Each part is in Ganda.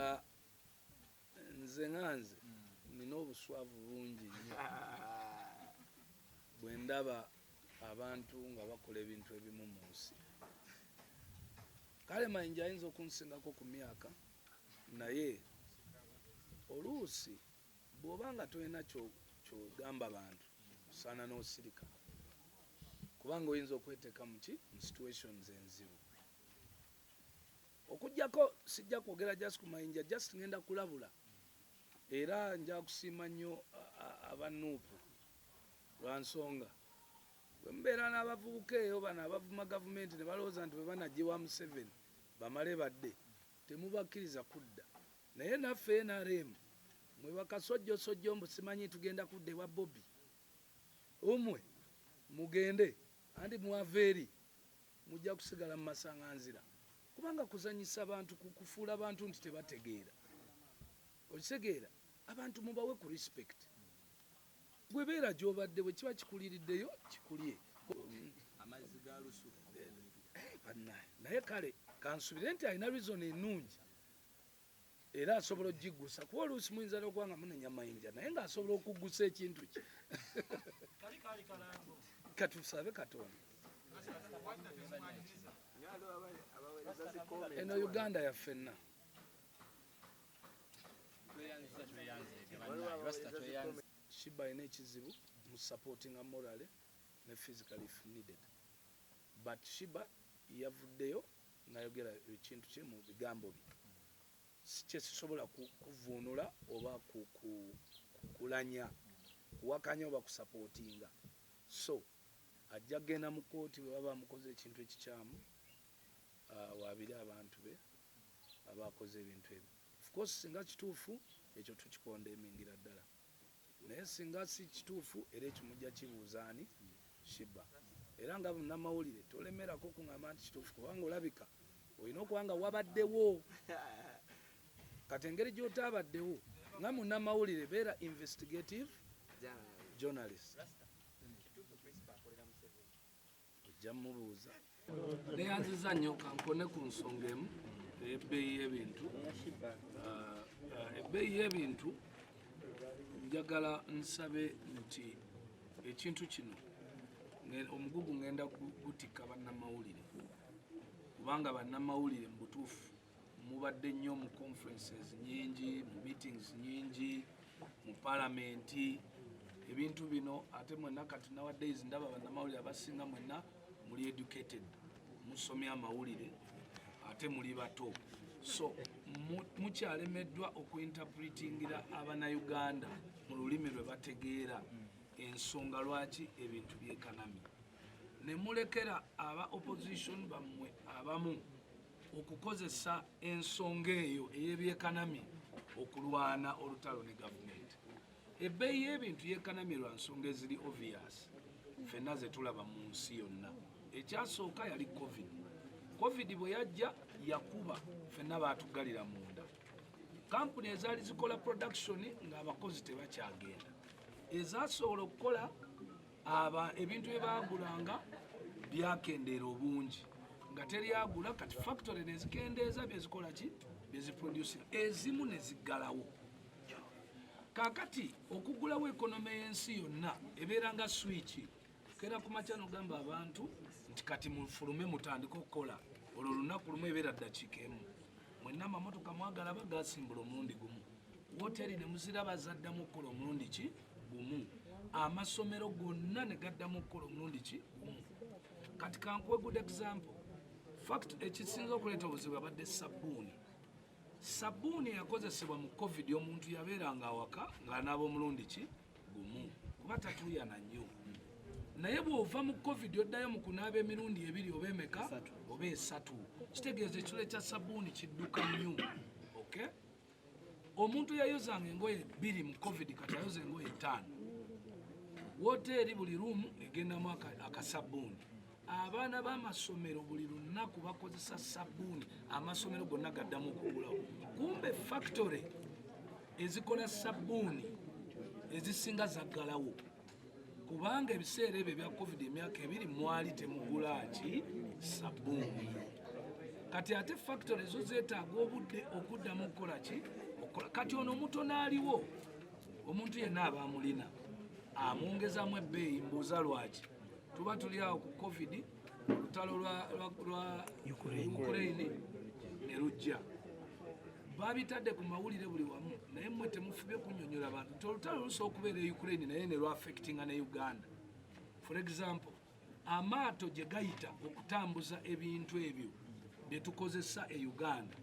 Ah, nze nga nze nina obuswavu bungi nnyo bwe ndaba abantu nga bakola ebintu ebimu mu nsi kale mayinja ayinza okunsingako ku myaka naye oluusi bw'oba nga tolina kyogamba bantu osaana n'osirika kubanga oyinza okweteeka muki mu situations enzibu Okujjako sijja kwogera just ku mayinja just ngenda kulabula era nja kusiima nnyo aba nuupu lwa nsonga bwe mubeera n'abavubuka eyo bano abavuma gavumenti ne balowooza nti bwe banajjewa museveni bamale badde temubakkiriza kudda naye naffe nrm mwe bakasojjosojjo mbu simanyi tugenda kudda ewa bobi umwe mugende anti mwava eri Mujja kusigala mu masanganzira kubanga kuzanyisa bantu kukufuula bantu nti tebategeera okitegeera abantu mubawe ku respect gwe beera gyobadde bwe kiba kikuliriddeyo kikulye amazzi ga lusu eh, eh, naye kale kansubire nti alina reason enungi era asobola okugiggusa kuba oluusi muyinza nokuba nga munenya mayinja naye nga asobola okuggusa ekintu kye katusabe katonda eno uganda yaffenna shiba alina ekizibu mu supportinga morale ne physically if needed Bat Shiba yavuddeyo nayogera ekintu kye mu bigambo bye sikyesisobola ku kuvvuunula oba ku ku kulanya, kuwakanya oba kusapootinga so ajja kugenda mu kkooti bwe baba bamukoze ekintu ekikyamu awaabire abantu be abaakoze ebintu ebyo. Of course singa kituufu ekyo tukikondemingira ddala. naye singa si kituufu era ekyo mujja kibuuza ani shiba era nga bunamawulire tolemerako kuŋamba nti kituufu kubanga olabika olina okuba nga wabaddewo kati engeri gyotaabaddewo nga munamawulire beera investigative journalist ojja mubuuza neyanziza nnyo kankone ku nsonga emu ebbeeyi y'ebintu ah, ah, ebbeeyi y'ebintu njagala nsabe nti ekintu kino omugugu ngenda gutikka bannamawulire kubanga bannamawulire mu butuufu mubadde nnyo mu conferences nyingi mu meetings nyingi mu palamenti ebintu bino ate mwenna kati nowadays ndaba bannamawulire abasinga mwenna muli educated musomye amawulire ate muli bato so mukyalemeddwa okuinterpretingira abanauganda mu lulimi lwe bategeera ensonga lwaki ebintu byekanami nemulekera aba opposition bammwe abamu okukozesa ensonga eyo ey'ebyekanamye okulwana olutalo ne gavumenti ebbeeyi y'ebintu yekanamye lwa nsonga eziri obvious fenna zetulaba mu nsi yonna ekyasooka yali covid covid bwe yajja yakuba fenna baatuggalira munda kampuni ezaali zikola production ng'abakozi tebakyagenda ezasobola okukola aba ebintu bye baagulanga byakendeera obungi nga teri agula kati factory nezikendeeza byezikola ki byeziproducing ezimu neziggalawo kakati okugulawo ekonome y'ensi yonna ebeera nga swiki kera ku makya nogamba abantu nti kati mufulume mutandike okukola olwo olunaku lumu ebeera ddakiika emu mwenna amamotoka mwagala bagasimbula omulundi gumu woteri nemuziraba zaddamu okukola omulundi ki gumu amasomero gonna ne gaddamu okukola omulundi ki gumu kati kankuwe good example fact ekisinza okuleeta obuzibu abadde sabbuuni sabbuuni eyakozesebwa mu covid omuntu yabeeranga awaka ng'anaaba omulundi ki gumu kuba tatuuyana nnyo naye bw'ova mu covid oddayo mu kunaaba emirundi ebiri oba emeka oba esatu kitegeeza ekitole kya sabbuuni kidduka nnyo okay omuntu eyayozanga engoye bbiri mu covid kati ayoza engoye ttaano woteeri buli ruumu egendamu akasabbuuni abaana b'amasomero buli lunaku bakozesa sabbuuni amasomero gonna gaddamu okugulawo kumbe factory ezikola sabbuuni ezisinga zaggalawo kubanga ebiseera ebyo ebya covid emyaka ebiri mwali temugula ki sabbuuni kati ate factory ezo zeetaaga obudde okuddamu okukola ki okukola kati ono omuto naaliwo omuntu yenna aba amulina amwongezamu ebbeeyi mbuuza lwaki tuba tuli awo ku covid olutalo lwa ukraine ne lujja babitadde ku mawulire buli wamu naye mwe temufubye kunyonyola bantu nti olutalo lusobola okubeera e ukraine naye ne lwaffectinga ne uganda for example amaato gye gayita okutambuza ebintu ebyo bye tukozesa e uganda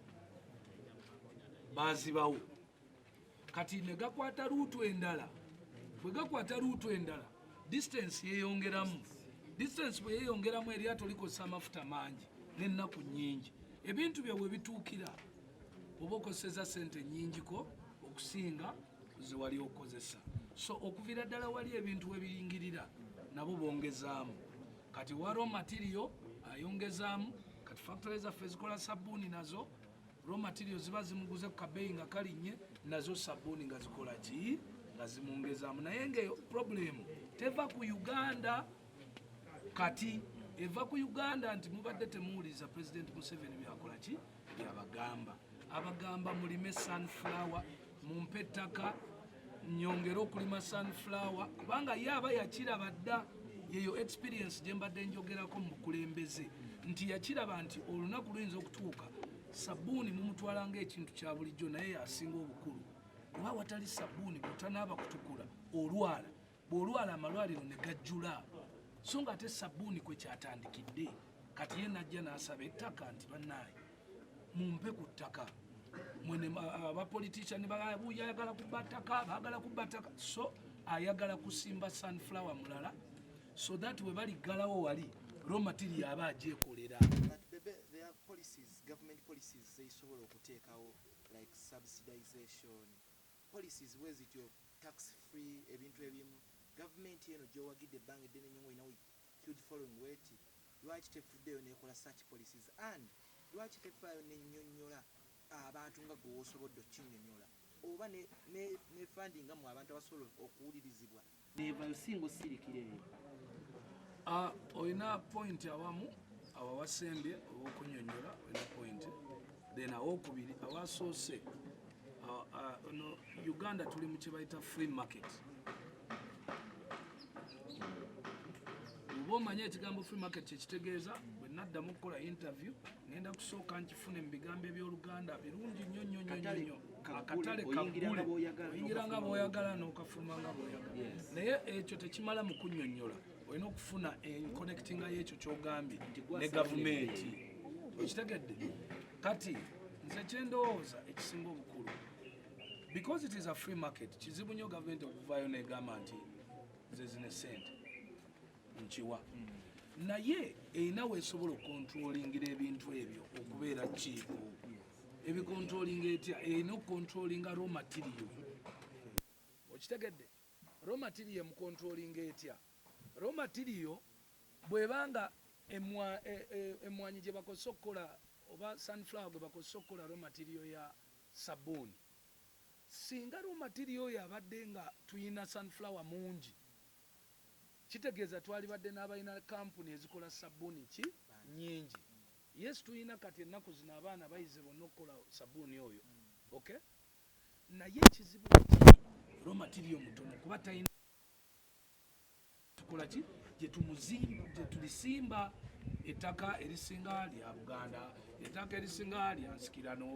bazibawo kati negakwata luutu endala bwegakwata luutu endala distance yeyongeramu distance bweyeyongeramu eryato likozesa amafuta mangi nenaku nyingi ebintu byabwe bituukira oba okozeseza sente nyingiko okusinga zewali okozesa so okuvira ddala wali ebintu webiyingirira nabo bongezaamu kati waro material ayongezaamu kati factory zaffe zikola sabuuni nazo raw material ziba zimuguze ku kabeeyi nga kalinnye nazo sabbuuni nga zikola ki nga zimwongezaamu naye ngaeyo problemu teva ku uganda kati eva ku uganda nti mubadde temuwuliriza pulezidenti museveni byakola ki byabagamba abagamba mulime sunflower mumpe ettaka nyongere okulima sunflower kubanga ye aba yakiraba dda yeyo experience gye mbadde njogerako mu bukulembeze nti yakiraba nti olunaku luyinza okutuuka sabbuuni mumutwala ngaekintu kya bulijjo naye yasinga obukulu oba watali sabbuuni kutanaaba kutukula olwala bw'olwala amalwaliro ne gajjula so nga ate sabbuuni kwe kyatandikidde kati ye najja n'asaba ettaka nti bannaaye mumpe ku ttaka mwene abapolitician babuya ayagala kubba ttaka baagala kubba ttaka so ayagala kusimba sunflower mulala so that we baliggalawo wali raw material aba agyekolera policies government policies zezisobola okuteekawo like subsidization Policies bwezityo, tax free, ebintu ebimu. Gavumenti eno gyowagidde ebbanga eddene nnyo nga olina huge following bweti, lwaki tevuddeyo nekola such policies and lwaki tefaayo nenyonyola abantu nga gwe wosobodde okukinyonyola oba ne ne fundinga mwe abantu abasobola okuwulirizibwa. nevayo singa osirikira eyo ah, olina point awamu awo awasembye owokunyonyola olina point then awokubiri awasoose ah, ah, no uganda tuli mu kyebayita free market oba omanye ekigambo free market kyekitegeeza bwe naddamu okukola interview ngenda kusooka nkifune mu bigambo ebyoluganda birungi nnyo nnyo nnyo nnyo akatale kagule oyingira nga bwoyagala nokafuluma nga bwoyagala naye ekyo tekimala mu kunyonyola olina okufuna enconnectinga yekyo kyogambye ne gavumenti okitegedde kati nze kyendowooza ekisinga obukulu because it is a free market kizibu nyo gavumenti okuvayo negamba nti nze zine sente nkiwa mm. naye erina wesobola okontrolingira ebintu ebyo okubeera kiiku ebikontrolinga etya erina okukontrolinga raw material okitegedde raw material emukontrolinga etya raw material bwebanga emmwanyi e, e, gye bakozesa okukola oba sunflower gwe bakozesa okukola raw material ya sabuuni singa raw material oyo abadde nga tuyina sunflower mungi kitegeeza twalibadde n'abalina kampuni ezikola sabuuni ki nyingi Yes tuyina kati enaku zino abaana bayize bonna okukola sabuuni oyo ok naye ekizibu kati raw material mutono kuba tayina tukola ki gyetulisiimba ettaka erisinga lya buganda ettaka erisinga lya nsikirano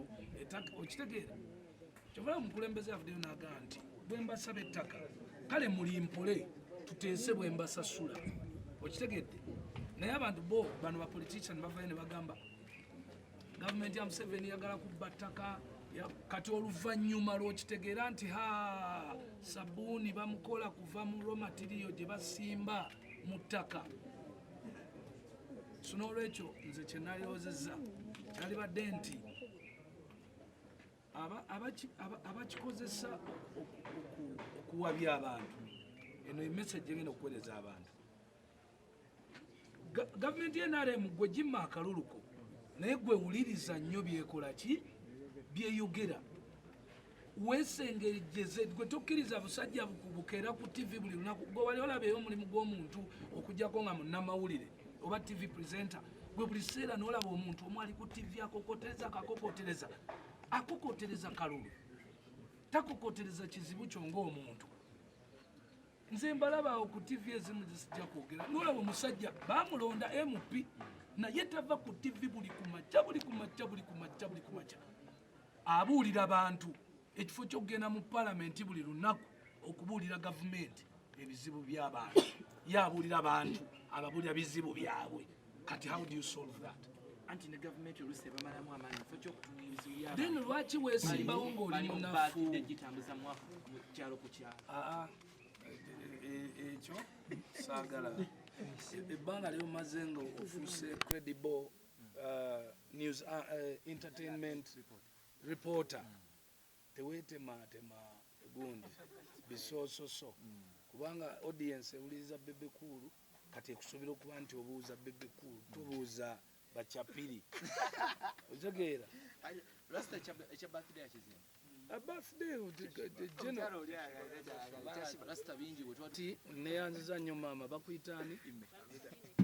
okitegeera kyova omukulembeze avuddeyo naga nti bwembasaba ettaka kale muli mpole tuteese bwembasasula okitegedde naye abantu bo bano bapolitician bavayo ne bagamba gavumenti ya museveni yagala kubba ttaka kati oluvannyuma lwokitegeera nti ha sabuuni bamukola kuva mu romatiriyo gye basimba mu ttaka so n'olwekyo nze kyenaliwozeza kyalibadde nti abakikozesa okuwabya abantu eno emesage egenda okuwereza abantu gavumenti yenaremu gwe gimma akaluluko naye gwe wuliriza nnyo byekola ki byeyogera wesengejeze gwe tokkiriza busajja bukubukeera ku tivi buli lunaku gwe wali olabeyo omulimu gw'omuntu okujjako nga munnamawulire oba tivi presenter gwe buli kiseera nolaba omuntu omu ali ku tivi akokotereza akakokotereza akokotereza kalulu takokotereza kizibu kyo ngaomuntu nze mbalabaawo ku tivi ezimu zisijja kwogera nolaba omusajja bamulonda mp naye tava ku tivi buli kumakya buli kumakya buli kumakya buli kumakya abuulira bantu ekifo ky'okugenda mu palamenti buli lunaku okubuulira gavumenti ebizibu by'abantu ye abuulira bantu ababuulira bizibu byabwe kati how do you solve that anti ne gavumenti olusi ebamalamu amaanyi kifo ky'okutunga ebizibu by'abantu then lwaki weesimbawo ng'oli munafu gitambuza mu kyalo ku kyalo ah, ah. E, e, ekyo saagala ebbanga lyomaze nga ofuuse credible uh, news uh, uh, entertainment reporter tewetema tema gundi bisososo kubanga audience ewuliriza bebe kuulu kati ekusuubira okuba nti obuuza bebe kuulu tubuuza bachapiri otegeera A birthday of the, the, the general. Rasta bingi wetwati neyanziza nnyo maama bakuyita ani ime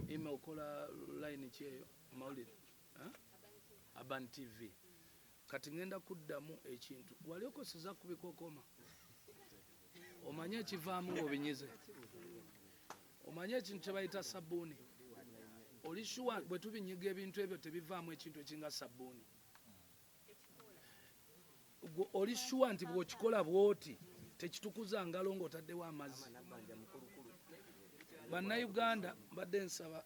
ime okola line ki eyo mawulire aban tv kati ngenda kuddamu ekintu wali okoseza kubikokoma omanye ekivaamu ngaobinyize omanye ekintu kyebayita sabbuuni oli shuwa bwetubinyiga ebintu ebyo tebivaamu ekintu ekinga sabbuuni gwe oli shuwa nti bwokikola bwoti tekitukuza ngalo ng'otaddewo amazzi bannayuganda mbadde nsaba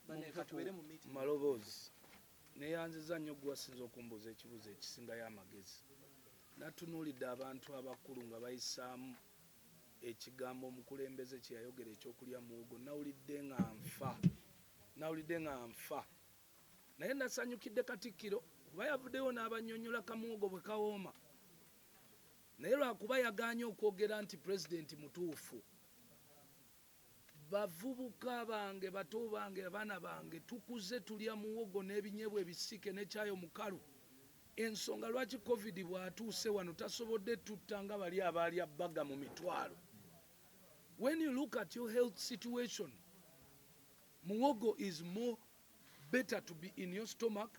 maloboozi neyanziza nnyo gwewasinza okumbuuza ekibuuzo ekisingayo amagezi natunuulidde abantu abakulu nga bayisaamu ekigambo omukulembeze kyeyayogera ekyokulya muwogo nawulidde nga nfa nawulidde nga nfa Naye nasanyukidde Katikkiro kuba yavuddeyo n'abannyonnyola kamuwogo bwe kawooma naye lwakuba yagaanye okwogera nti Pulezidenti mutuufu. Bavubuka bange, bato bange, abaana bange tukuze tulya muwogo n'ebinyebwa ebisiike ne caayi omukalu. Ensonga lwaki Covid bw'atuuse wano tasobodde tutta nga bali abaalya bbaga mu mitwalo. When you look at your health situation, Muwogo is more better to be in your stomach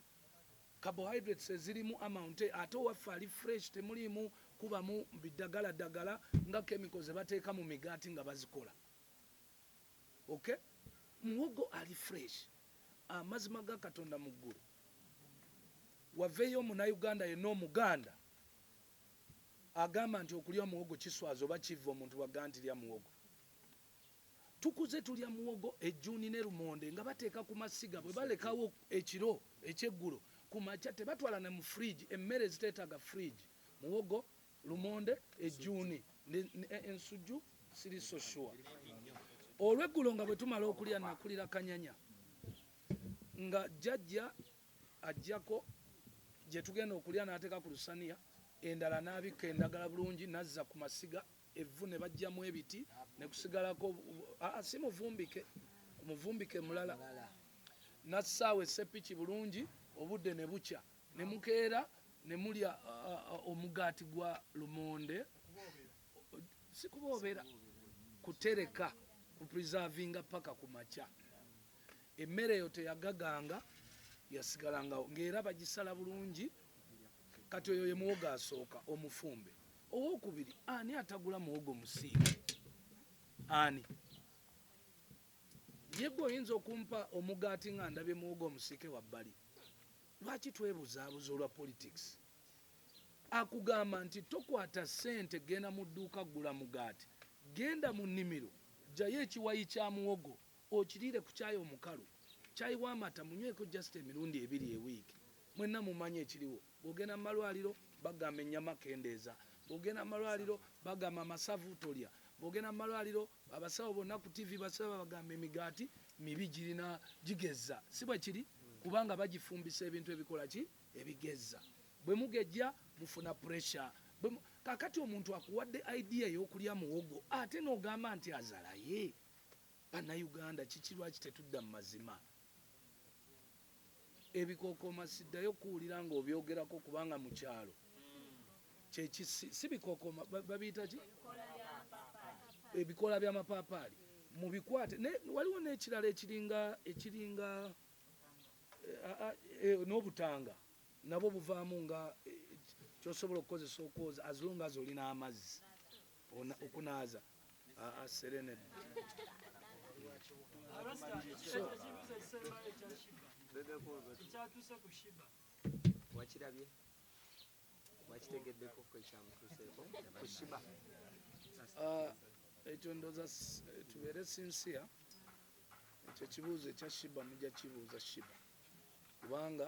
carbohydrates ezirimu amount ate owaffe ali fresh temuliimu kubamu bidagala dagala nga kemiko zebateeka mu migaati nga bazikola ok muwogo ali fresh amazima ga katonda mu ggulu waveeyo omunauganda yenna omuganda agamba nti okulya omuwogo kiswaza oba kivva omuntu waga nti lya muwogo Tukuze tulya muwogo, ejjuuni ne lumonde nga bateeka ku masiga bwe balekawo ekiro, ekyeggulo, ku makya tebatwala ne mu fridge emmere eziteetaaga fridge, muwogo, lumonde, ejjuuni, ensujju siri so sure. Olweggulo nga bwe tumala okulya nnakulira kanyanya nga jjajja aggyako gye tugenda okulya n'ateeka ku lusaniya endala n'abikka endagala bulungi n'azza ku masiga evvu ne bajjamu ebiti ne kusigalako ah, si muvumbike ku muvumbike mulala nassaawo esseppiki bulungi obudde ne bukya ne mukeera ne mulya omugaati gwa lumonde si kuboobera kutereka ku preservinga paka ku makya emmere eyo teyagaganga yasigalangawo ng'era bagisala bulungi kati oyo ye muwogo asooka omufumbe owokubiri ani atagula muwogo musiike ani yegwe oyinza okumpa omugaati nga ndabye muwogo omusiike wabbali lwaki twebuzaabuza olwa politics akugamba nti tokwata sente genda mu dduuka gula mugaati genda mu nnimiro jjayo ekiwayi kya muwogo okiriire ku kyayi omukalu kyayi w'amata munyweko just emirundi ebiri ewiiki mwenna mumanyi ekiriwo Bw'ogenda mu malwaliro bagamba ennyama kendeeza, bw'ogenda mu malwaliro bagamba amasavu tolya, bw'ogenda mu malwaliro abasawo bonna ku ttivi basiba babagamba emigaati mibi girina gigezza. Si bwe kiri? Kubanga bagifumbisa ebintu ebikola ki? Ebigezza. Bwe mugejja mufuna puresha. Kaakati omuntu akuwadde idea ey'okulya muwogo ate n'ogamba nti azalaye? Bannayuganda kiki lwaki tetudda mu mazima? ebikokooma siddayo kuwulira nga obyogerako kubanga mu kyalo si bikokooma babiyita ki ebikoola by'amapaapaali mu bikwate waliwo n'ekirala ekiringa ekiringa eh, eh, n'obutanga nabwo buvaamu nga eh, kyosobola okukozesa okwoza as long as olina amazzi okunaaza Aa Serene. Wakirabye? Wakitegeddeko ko ekyamutuuseeko ku Shiba? Ah, ekyo ndoza tubeere sinsiya ekyo kibuuzo ekya Shiba mujja kibuuza Shiba kubanga